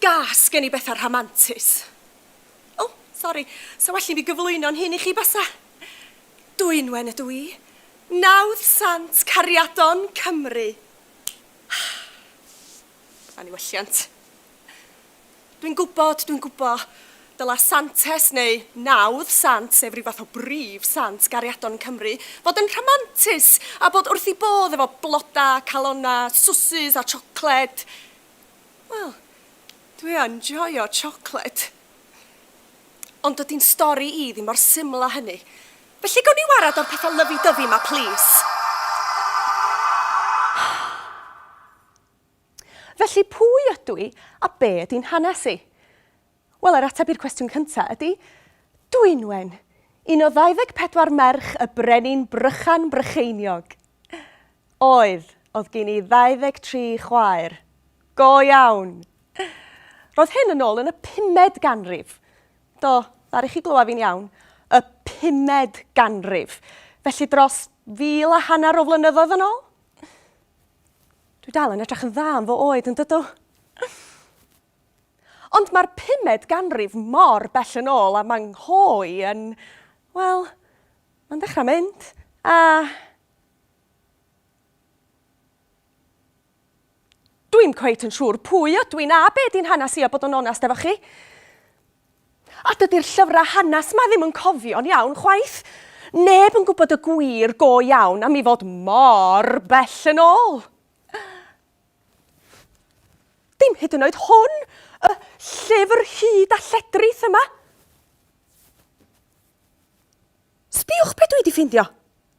Gas gen i bethau rhamantus. O, oh, sori, sa well i mi gyflwyno'n hyn i chi basa. Dwynwen ydw i. Nawdd Sant Cariadon Cymru. Anniwylliant. Dwi'n gwybod, dwi'n gwybod, dyla Santes neu nawdd Sant, sef rhyw fath o brif Sant gariadon yn Cymru, fod yn rhamantus a bod wrth ei bodd efo blodau, calonnau, swsus a siocled. Wel, dwi yn joio siocled. Ond dydy'n stori i ddim mor syml â hynny. Felly gawn ni warad o'r petha lyfi dyfi ma plîs? Felly pwy ydw i a be ydy'n hanes i? Wel yr ateb i'r cwestiwn cynta ydy Dwynwen! Un o 24 merch y brenin Brychan Brycheiniog! Oedd, oedd gin i 23 chwaer. Go iawn! Roedd hyn yn ôl yn y pumed ganrif. Do, ddaru chi glywed fi'n iawn, y pumed ganrif, felly dros fil a hanner o flynyddoedd yn ôl. Dwi dal yn edrych yn dda am fy oed yn dydw. Ond mae'r pumed ganrif mor bell yn ôl a mae nghoi yn... Wel, mae'n dechrau mynd, a... Dwi'm cweit yn siŵr pwy ydw i na be di'n hanes i a bod yn onest efo chi. A dydy'r llyfrau hanes ma ddim yn cofio'n iawn chwaith. Neb yn gwybod y gwir go iawn am i fod mor bell yn ôl. Dim hyd yn oed hwn, y llyfr hyd a lledrith yma. Sbiwch be dwi di ffindio.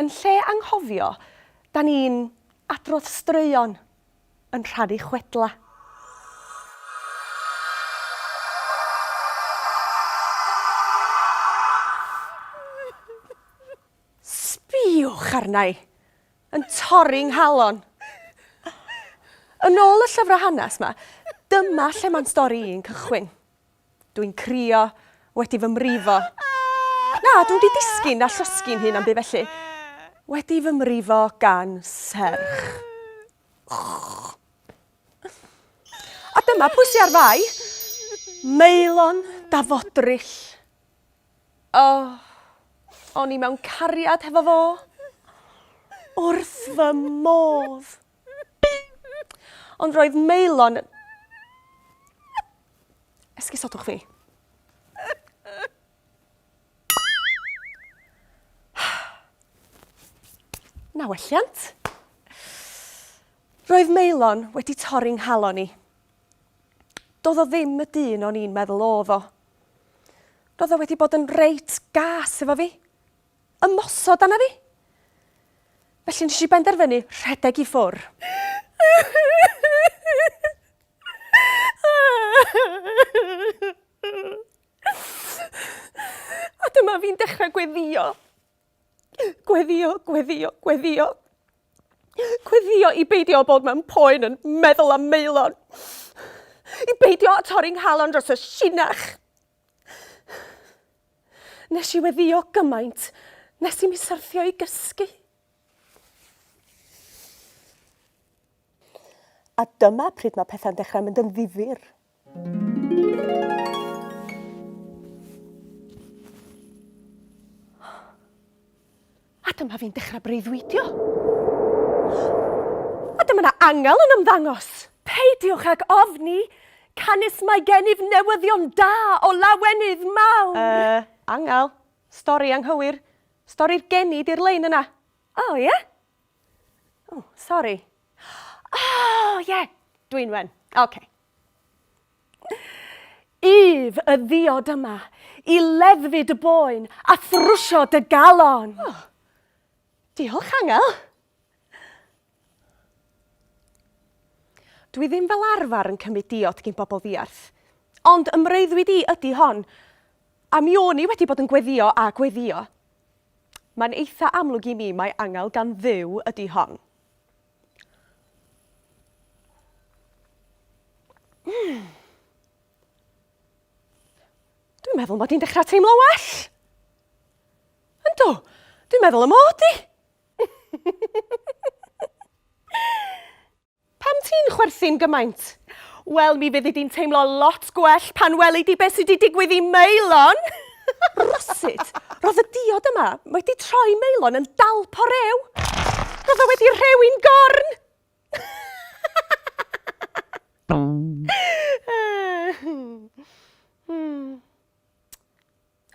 Yn lle anghofio, da ni'n adrodd straeon yn rhannu chwedla. Sbïwch arna i, yn torri 'nghalon. Yn ôl y llyfrau hanes 'ma, dyma lle mae'n stori i'n cychwyn. Dwi'n crio, wedi fy mrifo. Na, dwi wedi disgyn a llosgi'n hun am byd felly. Wedi fy mrifo gan serch. A dyma pwy sy ar fai. Meilon da fodryll. O, o'n i mewn cariad hefo fo. Wrth fy modd. Ond roedd Maelon... Esgusodwch fi. Na welliant. Roedd Maelon wedi torri nghalon i. Doedd o ddim y dyn o'n i'n meddwl oedd o. Roedd o wedi bod yn reit gas efo fi. ymosod arna fi. Felly nes i benderfynu rhedeg i ffwr. A dyma fi'n dechrau gweddio. Gweddio, gweddio, gweddio. Gweddio i beidio o bod mewn poen yn meddwl am meilon. I beidio o torri nghalon dros y sinach. Nes i weddio gymaint nes i mi syrthio i gysgu. A dyma pryd mae pethau'n dechrau mynd yn ddifyr. A dyma fi'n dechrau breuddwydio. A dyma na angel yn ymddangos. Peidiwch ag ofni, canys mae gennyf newyddion da o lawenydd mawr. Yy, angel? Stori anghywir. Stori'r geni di'r lein yna. O, ie? O, sori. O, ie, Dwynwen. Ocê. Ef y ddiod yma i leddfu dy boen a thrwsio dy galon. Oh. Diolch, Angel. Dwi ddim fel arfer yn cymryd diod gin bobl ddiarth, ond ym mreuddwyd i ydy hon, a mi o'n i wedi bod yn gweddio a gweddio. Mae'n eitha amlwg i mi mai angel gan Dduw ydy hon. Hmm. Dwi'n meddwl mod i'n dechrau teimlo well. Yndw, dwi'n meddwl y mod i. Pam ti'n chwerthin gymaint? Wel, mi fyddi di'n teimlo lot gwell pan weli di beth sydd wedi digwydd i Meilon. Rywsut, roedd y diod yma wedi troi Maelon yn dalp o rew! Roedd o wedi rhewi'n gorn!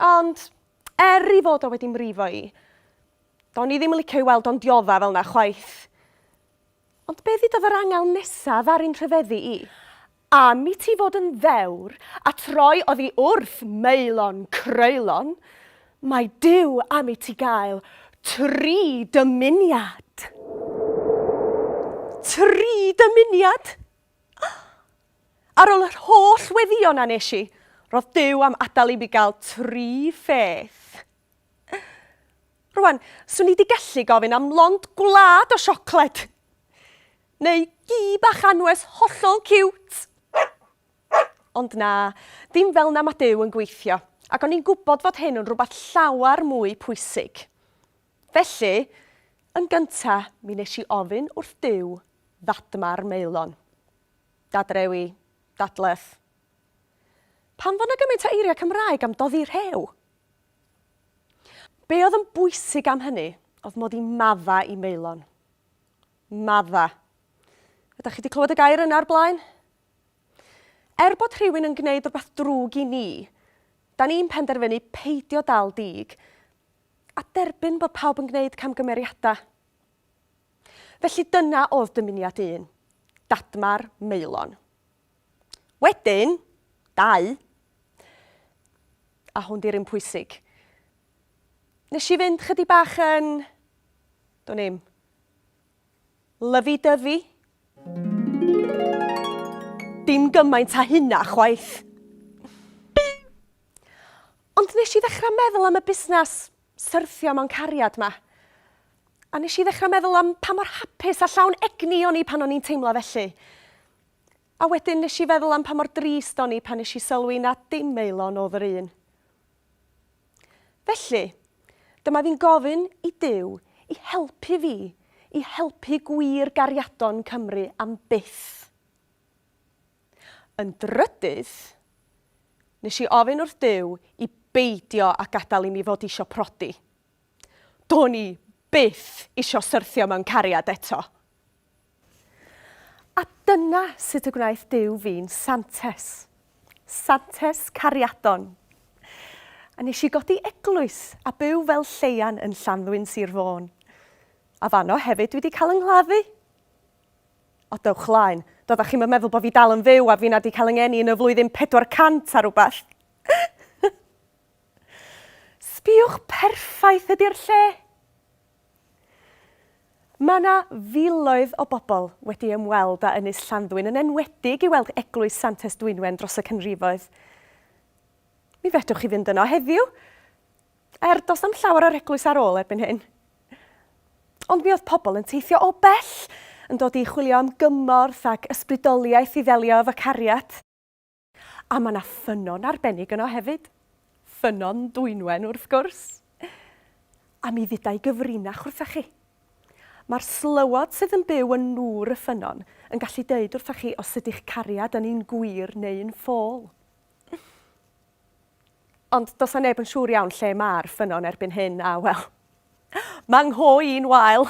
Ond, er ei fod o wedi mrifo i, do'n i ddim yn licio i weld o'n diodda' fel 'na chwaith. Ond be ddudodd yr angel nesaf ar un rhyfeddu i? Am i ti fod yn ddewr, a troi oddi wrth maelon croelon, mae Duw am i ti gael tri dymuniad. Tri dymuniad? Oh! Ar ol yr holl weddion a nes i, ro'dd Duw am adal i mi gael tri pheth. Rwan, swn i di gallu gofyn am lond gwlad o siocled. Neu gi bach anwes hollol ciwt. Ond na, dim fel na mae Duw yn gweithio, ac o'n i'n gwybod fod hyn yn rhywbeth llawer mwy pwysig. Felly, yn gynta, mi nes i ofyn wrth Duw ddadma'r maelon. Dadrewi, dadleth. Pam fod na gymaint o eiriau Cymraeg am doddi rhew? Be oedd yn bwysig am hynny oedd mod i'n madda i Maelon. Madda. Ydych chi wedi clywed y gair yna o'r blaen? Er bod rhywun yn gwneud rhywbeth drwg i ni, da ni'n penderfynu peidio dal dig a derbyn bod pawb yn gwneud camgymeriadau. Felly dyna oedd dymuniad un, dadmar Maelon. Wedyn, dau, a hwn di'r un pwysig. Nes i fynd chydig bach yn, dwi'n i'm, lyfi-dyfi. Dim gymaint a hynna chwaith. Ond nes i ddechrau meddwl am y busnes syrthio mewn cariad 'ma. A nes i ddechrau meddwl am pa mor hapus a llawn egni o'n i pan o'n i'n teimlo felly. A wedyn nes i feddwl am pa mor drist o'n i pan nes i sylwi na dim Elon o'dd yr un. Felly, dyma fi'n gofyn i Duw i helpu fi i helpu gwir gariadon Cymru am byth. Yn drydydd, nes i ofyn wrth Duw i beidio â gadael i mi fod isio prodi. Do'n i byth isio syrthio mewn cariad eto. A dyna sut y gwnaeth Duw fi'n Santes. Santes Cariadon. A nes i godi eglwys a byw fel lleian yn Llanddwyn, Sir Fôn. A fanno hefyd dwi 'di cael yng nghladdu. O, dewch laen. Doeddech chi'm yn meddwl bod fi dal yn fyw a finna 'di cael yng ngeni yn y flwyddyn 400 a rhywbeth. Sbïwch perffaith ydi'r lle! Mae yna filoedd o bobl wedi ymweld â Ynys Llanddwyn, yn enwedig i weld Eglwys Santes Dwynwen dros y canrifoedd. Mi fedrwch chi fynd yno heddiw, er does na'm llawer o'r eglwys ar ôl erbyn hyn. Ond mi oedd pobl yn teithio o bell yn dod i chwilio am gymorth ac ysbrydoliaeth i ddelio efo cariad. A mae yna ffynnon arbennig yno hefyd. Ffynnon Dwynwen, wrth gwrs. A mi ddydau gyfrinach wrthach chi. Mae'r slywod sydd yn byw yn nŵr y ffynnon yn gallu dweud wrthach chi os ydy'ch cariad yn un gwir neu un ffôl. Ond does na neb yn siŵr iawn lle mae'r ffynnon erbyn hyn a, wel, mae ngho i'n wael.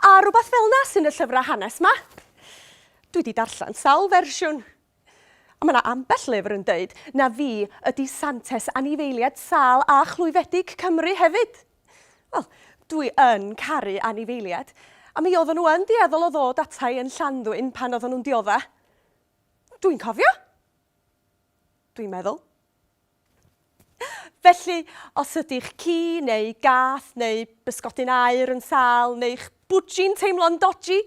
A rhywbeth fel 'na sy'n y llyfrau hanes 'ma. Dwi 'di darllen sawl fersiwn. A mae 'na ambell lyfr yn deud na fi ydi Santes anifeiliaid sâl a chlwyfedig Cymru hefyd. Wel, dwi yn caru anifeiliaid, a mi oedden nhw yn dueddol o ddod ata i yn Llanddwyn pan oedden nhw'n diodda'. Dwi'n cofio! Dwi'n meddwl. Felly, os ydy'ch ci neu gath neu bysgodyn aur yn sâl neu'ch bwdji'n teimlo'n doji,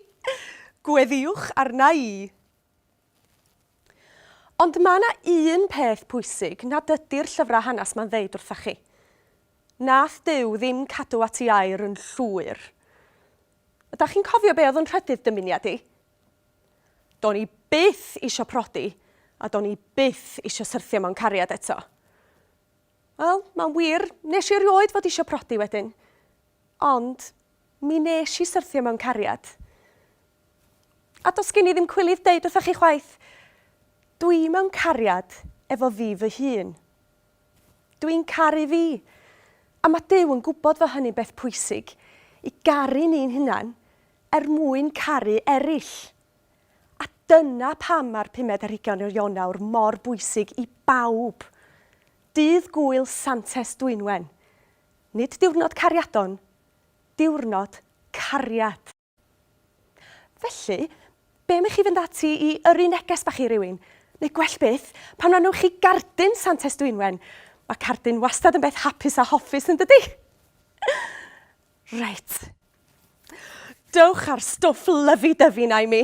gweddiwch arna i! Ond mae yna un peth pwysig nad ydy'r llyfrau hanes 'ma'n ddeud wrtha chi. Nath Duw ddim cadw at i air yn llwyr. Ydach chi'n cofio be oedd yn rhydydd dymuniad i? Do'n i byth isio prodi a do'n i byth isio syrthio mewn cariad eto. Wel, mae'n wir, nes i erioed fod isio prodi wedyn. Ond, mi nes i syrthio mewn cariad. A dos gen i ddim cwilydd deud wrthoch chi chwaith, dwi mewn cariad efo fi fy hun. Dw i'n caru fi! A mae Duw yn gwybod fod hynny'n beth pwysig, i garu ni'n hunain er mwyn caru eraill. A dyna pam mae'r pumed ar hugain o Ionawr mor bwysig i bawb. Dydd Gŵyl Santes Dwynwen. Nid diwrnod cariadon, diwrnod cariad! Felly, be am i chi fynd ati i yrru neges bach i rywun? Neu gwell byth, pan rannwch chi gardyn Santes Dwynwen? Mae cardyn wastad yn beth hapus a hoffus yn dydy? Reit. Dewch â'r stwff lyfi-dyfi na i mi.